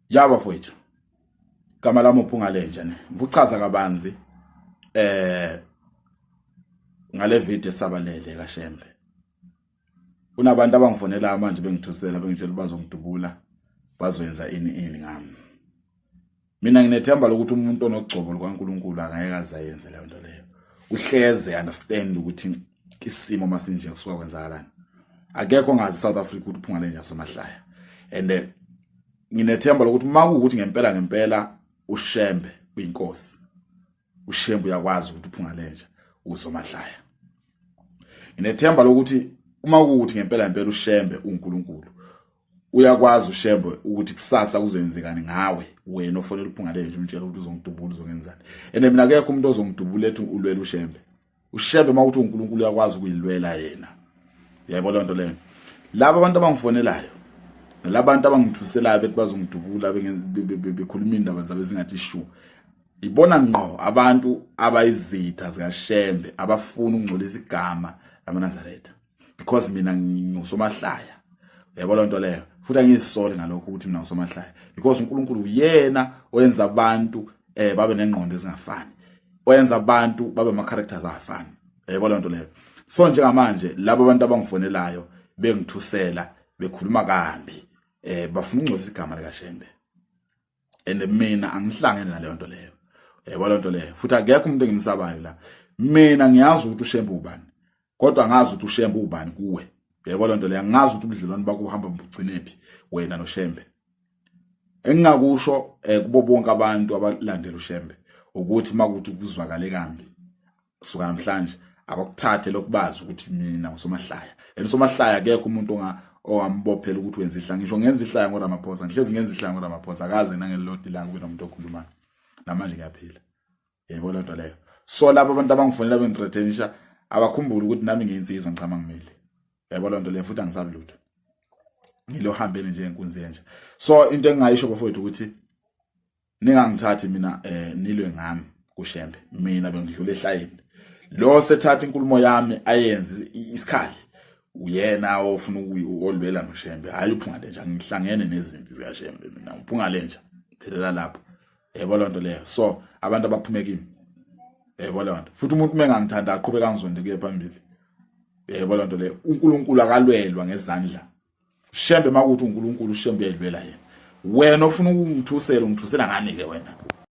ya bafowethu igama lami uphungalenja ne ngikuchaza kabanzi eh ngale video esabalele kaShembe kunabantu abangifonela manje bengithusela bengitshela bazongidubula bazoyenza ini ini ngami mina nginethemba lokuthi umuntu onogcobo lukaNkuluNkulu angeke azayenze leyo nto leyo uhleze understand ukuthi isimo masinje kusuka kwenzakalani akekho ngazi South Africa ukuthi phunga lenja samahlaya and eh, nginethemba lokuthi uma kuwukuthi ngempela ngempela ushembe uyinkosi ushembe uyakwazi ukuthi uphunga lenja uzomahlaya nginethemba lokuthi uma kuwukuthi ngempela ngempela ushembe uNkulunkulu uyakwazi ushembe ukuthi kusasa kuzoyenzekani ngawe wena ofonela uphunga lenja umtshela ukuthi uzongidubula uzongenzani ene mina akekho umuntu ozongidubula ethi ulwela ushembe ushebe uma uthi uNkulunkulu uyakwazi ukuyilwela yena yebo lonto leyo laba abantu abangifonelayo labantu abangithuselayo bethi bazongidubula bekhuluma indaba zabe zingathi shu ibona ngqo abantu abayizitha zikashembe abafuna ukungcolisa igama lamaNazaretha because mina ngisomahlaya yabo lonto leyo futhi angizisoli ngalokho ukuthi mina usomahlaya because uNkulunkulu uyena oyenza abantu eh babe nengqondo ezingafani oyenza abantu babe ama characters afani yabo lonto leyo so njengamanje labo abantu abangifonelayo bengithusela bekhuluma kambi eh bafuna ukungcolisa igama lika Shembe and mina angihlangene naleyo nto leyo yebo lento leyo futhi akekho umuntu engimsabayo la mina ngiyazi ukuthi ushembe ubani kodwa ngazi ukuthi ushembe ubani kuwe yebo lento leyo ngazi ukuthi ubudlelwane bakho uhamba mbugcinephi wena noshembe engingakusho eh, kubo bonke abantu abalandela ushembe ukuthi makuthi kuzwakale kambi kusuka namhlanje abakuthathe lokubazi ukuthi mina ngusomahlaya and usomahlaya akekho umuntu onga owambophela ukuthi wenza ihlaya ngisho ngenza ihlaya ngoRamaphosa ngihlezi ngenza ihlaya ngoRamaphosa akaze nangelilodi langa kube nomuntu okhulumayo namanje ngiyaphila yebo loo nto leyo so labo abantu abangifonela bengithrethenisha abakhumbule ukuthi nami ngiyinsizwa ngichama ngimile yebo loo nto leyo futhi angisabi lutho ngilohambeni nje enkunzi yenja so into engingayisho bafowethu ukuthi ningangithathi mina eh nilwe ngami kushembe mina bengidlula ehlayini lo sethatha inkulumo yami ayenze isikhali uyena ofuna ukulwela noshembe hayi uphungale nje ngihlangene nezimpi zikashembe mina uphungale nje phelela lapho yebo lonto leyo so abantu abaphume kimi yebo lonto futhi umuntu mengangithanda aqhubeka ngizonde kuye phambili yebo lonto leyo uNkulunkulu akalwelwa ngezandla Shembe makuthi uNkulunkulu uShembe uyayilwela yena. Wena ofuna ukungithusela ungithusela ngani ke wena?